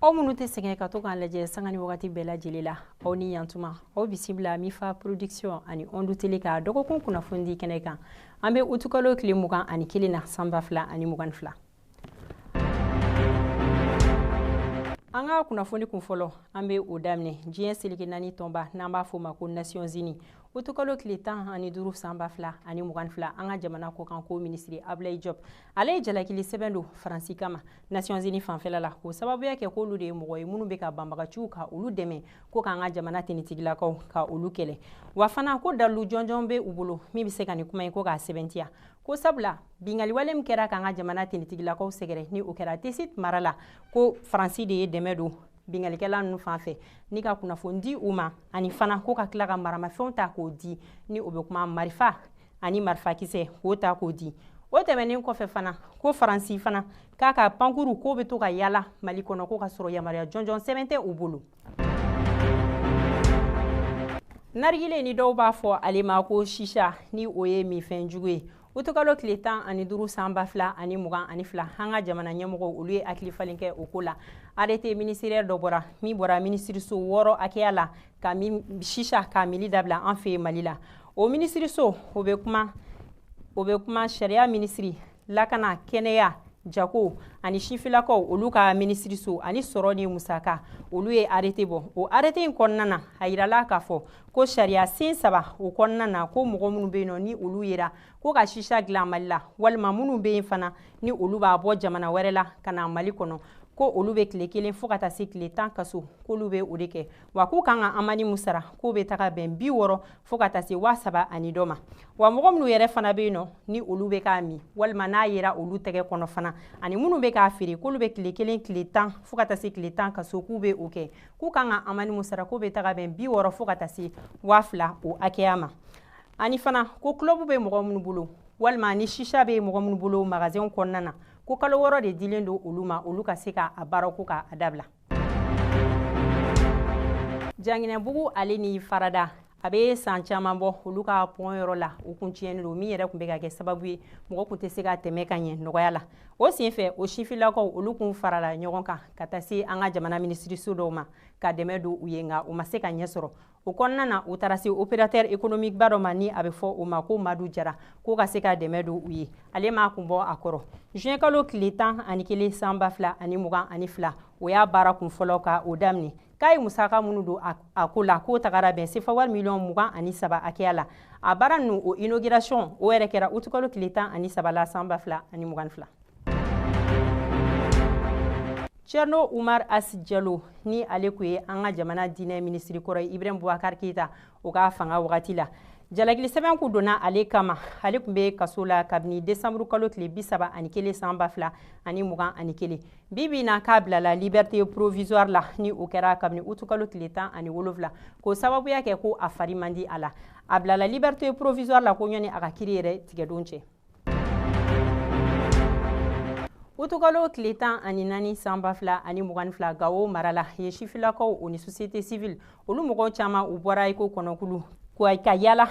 aw minnu tɛ sɛgɛn ka to k'an lajɛ sanga ni wagati bɛɛ lajɛlen la aw ni yantuma aw bisimila mifa production ani ondu tele ka dɔgɔkun kunnafoni di kɛnɛ kan an bɛ utukalo tile mugan ani kelen na san ba fila ani mugan fila an ka kunnafoni kun fɔlɔ an bɛ o daminɛ diɲɛ seleke naani tɔnba n'an b'a fɔ ma ko nations unies utukalo tile tan ani duuru san ba fila ani mugan fila an ka jamana kɔkanko minisiri abulayi jɔp ale ye jalakili sɛbɛn don faransi kama nations unies fanfɛla la k'o sababuya kɛ k'olu de ye mɔgɔ ye minnu bɛ ka banbaganciw ka olu dɛmɛ ko k'an ka jamana finitigilakaw ka olu kɛlɛ wa fana ko dalilu jɔnjɔn bɛ u bolo min bɛ se ka nin kuma in ko k'a sɛbɛntiya ko sabula bingaliwale min kɛra k'an ka jamana finitigilakaw sɛgɛrɛ ni o kɛra tesit mara la ko faransi de ye dɛmɛ don bingalikɛla ninnu fan fɛ ni ka kunnafoni di u ma ani fana ko ka tila ka maramafɛnw ta k'o di ni o bɛ kuma marifa ani marifakisɛ k'o ta k'o di o tɛmɛnen kɔfɛ fana ko faransi fana k'a ka pankurun k'o bɛ to ka yaala mali kɔnɔ ko k'a sɔrɔ yamaruya jɔnjɔn sɛbɛn tɛ u bolo narigile ni dɔw b'a fɔ ale ma ko shisha ni o ye minfɛn jugu ye utukalo tile tan ani duru san ba fila ani mugan ani fila an ka jamana ɲɛmɔgɔw olu ye hakili falen kɛ o ko la arrêté ministériel dɔ bɔra min bɔra minisiriso wɔɔrɔ hakɛya la ka shisha ka mili dabila an fɛ mali la o minisiriso o bɛ kuma o bɛ kuma sariya minisiri lakana kɛnɛya jako ani sifilakaw olu ka minisiriso ani sɔrɔ ni musaka olu ye arrêté bɔ o arrêté in kɔnɔna na a yirala k'a fɔ ko sariya sen saba o kɔnɔna na ko mɔgɔ minnu bɛ yen nɔ ni olu yera ko ka shisha dilan mali la walima minnu bɛ yen fana ni olu b'a bɔ jamana wɛrɛ la ka na mali kɔnɔ ko olu bɛ tile kelen fo ka taa se tile tan kaso k'olu bɛ o de kɛ wa k'u kan ka amani min sara k'o bɛ taga bɛn bi wɔɔrɔ fo ka taa se waa saba ani dɔ ma wa mɔgɔ minnu yɛrɛ fana bɛ yen nɔ ni olu bɛ k'a min walima n'a yera olu tɛgɛ kɔnɔ fana ani minnu bɛ k'a feere k'olu bɛ tile kelen tile tan fo ka taa se tile tan kaso k'u bɛ o kɛ k'u kan ka amani min sara k'o bɛ taga bɛn bi wɔɔrɔ fo ka taa se waa fila o hakɛya ma ani fana ko kulɔbu bɛ mɔgɔ minnu bolo walima ni shisha bɛ mɔgɔ minnu bolo magasɛnw kɔnɔna na ko kalo wɔɔrɔ de dilen don olu ma olu ka se ka a baara ko ka a dabila janginɛbugu ale ni farada a bɛ san caman bɔ olu ka pɔn yɔrɔ la o kun tiɲɛnen don min yɛrɛ tun bɛ ka kɛ sababu ye mɔgɔ tun tɛ se ka tɛmɛ ka ɲɛ nɔgɔya la o senfɛ o sifilakaw olu kun farala ɲɔgɔn kan ka taa se an ka jamana minisiriso dɔw ma ka dɛmɛ don u ye nka u ma se ka ɲɛ sɔrɔ o kɔnɔna na u taara se opérateur économique ba dɔ ma ni a bɛ fɔ o ma ko madu jara k'o ka se ka dɛmɛ don u ye ale m'a kun bɔ a kɔrɔ juin kalo tile tan ani kelen san ba fila ani mugan ani fila o y'a baara kun fɔlɔ ka o daminɛ k'a ye musaka minnu don a ko la k'o tagara bɛn sefa wari miliyɔn mugan ani saba hakɛya la a baara ninnu o inauguration o yɛrɛ kɛra utukalo tile tan ani saba la san ba fila ani mugan ni fila Cerno Umar As Jalo ni ale kun ye an ka jamana diinɛ ministiri kɔrɔ ye Ibrahim Boubacar Keita o ka fanga wagati la jalakili sɛbɛn kun donna ale kama ale kun bɛ kaso la kabini desanburu kalo tile bi saba ani kelen san ba fila ani mugan ani kelen bi bi na k'a bilala liberté provisoire la ni o kɛra kabini utukalo tile tan ani wolonfila k'o sababuya kɛ ko a fari man di a la a bilala liberté provisoire la ko ɲɔni a ka kiri yɛrɛ tigɛdon cɛ utukalo tile tan ani naani san ba fila ani mugan ni fila gawo mara la ye sifilakaw o ni société civile olu mɔgɔw caman u bɔra iko kɔnɔkulu ka yala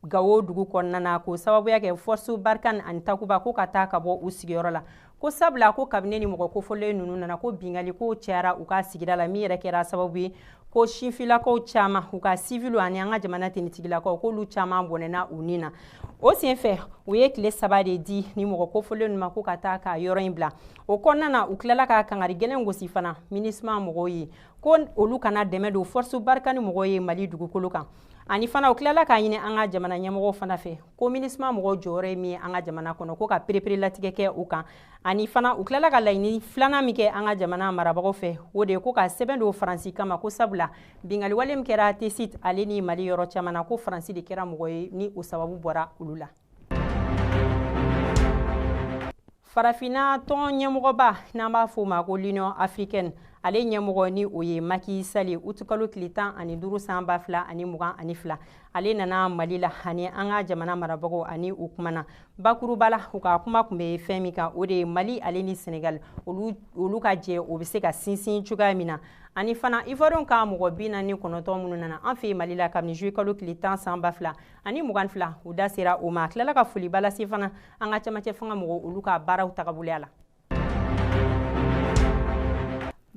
gawo dugu kɔnɔna na k'o sababuya kɛ force barkhane ani takuba ko ka taa ka bɔ u sigiyɔrɔ la ko sabula ko kabini ni mɔgɔ kofɔlen ninnu nana ko bingali kow cayara u ka sigida la min yɛrɛ kɛra sababu ye ko sifilakaw caman u ka siviliw ani an ka jamana tenitigilakaw k'olu caman bɔnɛna u ni na o sen fɛ u ye tile saba de di ni mɔgɔ kofɔlen ninnu ma ko ka taa ka yɔrɔ in bila o kɔnɔna na u tilala ka kangari gɛlɛn gosi fana minusma mɔgɔw ye ko olu kana dɛmɛ don force barkhane mɔgɔw ye mali dugukolo kan ani fana u tilala k'a ɲini an ka jamana ɲɛmɔgɔw fana fɛ ko minusma mɔgɔw jɔyɔrɔ ye min ye an ka jamana kɔnɔ ko ka pereperelatigɛ kɛ u kan ani fana u tilala ka laɲini filanan min kɛ an ka jamana marabagaw fɛ o de ye ko ka sɛbɛn don faransi kama ko sabula bingaliwale min kɛra tesit ale ni mali yɔrɔ caman na ko faransi de kɛra mɔgɔ ye ni o sababu bɔra olu la farafinna tɔn ɲɛmɔgɔba n'an b'a fɔ o ma ko l'union africaine ale ɲɛmɔgɔ ni o ye Macky Sall utukalo tile tan ani duuru san ba fila ani mugan ani fila ale nana mali la ani an ka jamana marabagaw ani u kumana bakuruba la u ka kuma kun bɛ fɛn min kan o de ye mali ale ni senegal olu ka jɛ o bɛ se ka sinsin cogoya min na ani fana ivoirienw ka mɔgɔ bi naani kɔnɔntɔn minnu nana an fɛ mali la kabini juillet kalo tile tan san ba fila ani mugan fila u da sera o ma a tilala ka foliba lase fana an ka camancɛ fanga mɔgɔw olu ka baaraw tagaboloya la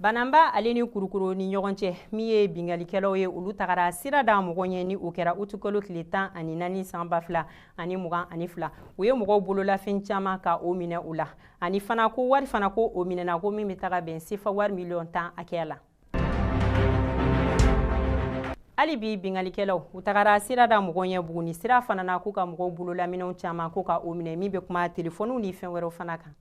bananba ale ni kulukoro ni ɲɔgɔn cɛ min ye bingalikɛlaw ye olu tagara sira da mɔgɔ ɲɛ ni o kɛra utukalo tile tan ani naani san ba fila ani mugan ani fila u ye mɔgɔw bololafɛn caman ka o minɛ u la ani fana ko wari fana ko o minɛna ko min bɛ taga bɛn sefa wari miliyɔn tan hakɛya la hali bi bingalikɛlaw u tagara sira da mɔgɔ ɲɛ buguni sira fana na k'u ka mɔgɔw bololaminɛnw caman ko ka o minɛ min bɛ kuma telefɔniw ni fɛn wɛrɛw fana kan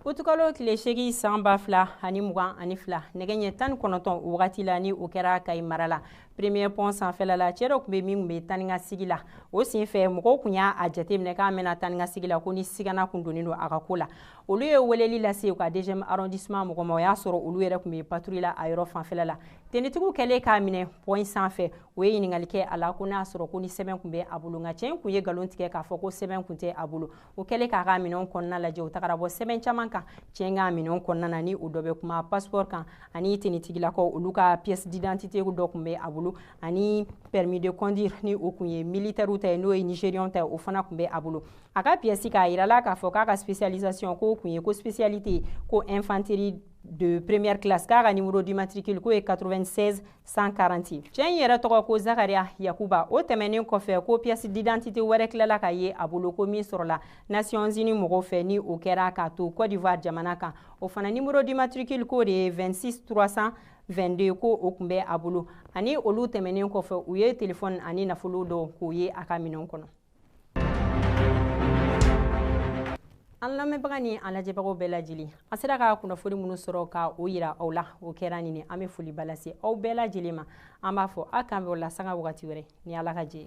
utukalo tile seegin san ba fila ani mugan ani fila nɛgɛ ɲɛ tan ni kɔnɔntɔn o wagati la ni o kɛra kayi mara la premier pont sanfɛla la cɛ dɔ kun bɛ min kun bɛ taa ni ka segin la o sen fɛ mɔgɔw kun y'a jateminɛ k'a mɛnna taa ni ka segin la ko ni sigana kun donnen don a ka ko la olu ye weleli lase u ka deuxième arrondissement mɔgɔ ma o y'a sɔrɔ olu yɛrɛ tun bɛ patrouille la a yɔrɔ fanfɛla la tenitigiw kɛlen k'a minɛ pɔn sanfɛ u ye ɲininkali kɛ a la ko n'a sɔrɔ ko ni sɛbɛn tun bɛ a bolo nka cɛ in tun ye nkalon tigɛ k'a fɔ ko sɛbɛn tun tɛ a bolo o kɛlen k'a ka minɛnw kɔnɔna lajɛ u tagara bɔ sɛbɛn caman kan cɛ in ka minɛnw kɔnɔna na ni o dɔ bɛ kuma passeport kan ani tenitigilakaw olu ka pièce d'identité dɔ tun bɛ a bolo ani permis de conduire ni o tun ye militaires ta ye n'o ye nigériens ta ye o fana tun bɛ a bolo a ka pièce k'a yirala k'a fɔ k'a ka spécialisation k'o kun ye ko spécialité ko infanterie de première classe k'a ka numéro de matricule k'o ye 96 140 cɛ in yɛrɛ tɔgɔ ko zakariya yakuba o tɛmɛnen kɔfɛ ko pièce d'identité wɛrɛ tilala ka ye a bolo ko min sɔrɔla nations unies mɔgɔw fɛ ni o kɛra k'a to côte d'ivoire jamana kan o fana numéro de matricule k'o de ye 26 322 ko o tun bɛ a bolo ani olu tɛmɛnen kɔfɛ u ye telefɔni ani nafolo dɔ k'o ye a ka minɛnw kɔnɔ an lamɛnbaga ni an lajɛbagaw bɛɛ lajɛlen an sera ka kunnafoni minnu sɔrɔ ka o yira aw la o kɛra nin ye an bɛ foliba lase aw bɛɛ lajɛlen ma an b'a fɔ a k'an bɛn o la sanga wagati wɛrɛ ni ala ka jɛ